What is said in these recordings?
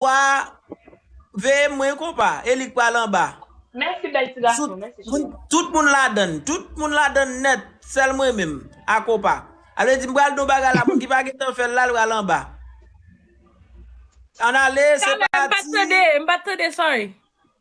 Wa veye mwen kompa e li k pral anba. Mèsi bèl ti gason mèsi cheri. Tout moun ladann tout moun ladann nèt sèl mwen menm a kompa a vle di m pral di yon bagay la moun ki pa gentan fèl la l pral anba an ale se pati. Caleb m pat tande m pat tande sorry.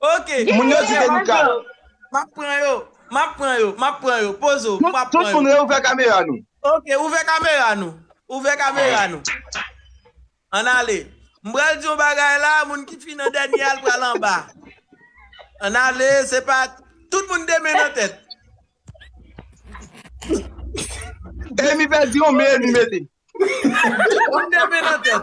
Ok Moun yo di Genlè Denica. Bonjour. Map pran yo Map pran yo Map pran yo Pozo Tout Map tout pran moun yo reouvè kamera nou. Ok ouvè kamera nou Ouvè kamera nou Ann ale M pral di yon bagay la moun ki fin an dènye a l pral anba Ann ale se pa Tout moun 2 men nan tèt Emi pèdi yon men li mete. Moun 2 men nan tèt.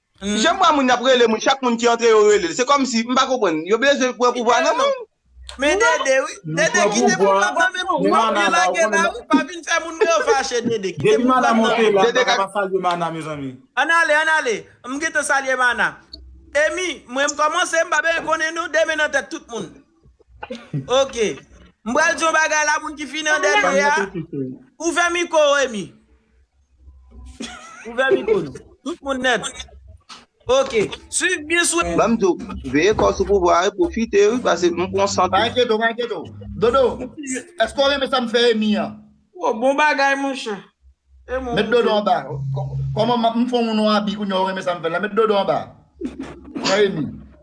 Jan bwa moun ap rele moun chak moun ki antre yo relel se kòmsi m pa konprann yo bezwen pran pouvwa nan menw. Men dede wi, dede kite pouvwa pran men pouvwa ou byen lage la wi pa vin fè moun re fache dede kite pouvwa nan men ou. Dede ka salye mana mezanmi. Ann ale ann ale m gentan salye mana. Emy mwen m kòmanse m pa bezwen konnen non demen nan tèt tout moun ok m pral di yon bagay la moun ki fini an dènye a ou fè miko Emy. Ouvè mikro nou. Tout moun nèt. Ok. Swiv byen sou. Banm diw, veye kòw sou pouvwa a wi, pwofite wi pase m pran sant ou. Pa enkyete w, pa enkyete w. Dodo, èske w renmen sa m fè Emmy an? Wo, bon bagay monchè. E mwen. Met dodo anba. Kòman m fon w nou abi kounya w renmen sa m fè l la? Met dodo anba. Pran Emmy.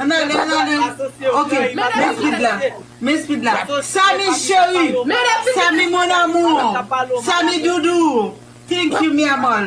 An ale an ale ok men speed la men speed la Samy cheri Samy mon amour Samy doudou thank you mi amor.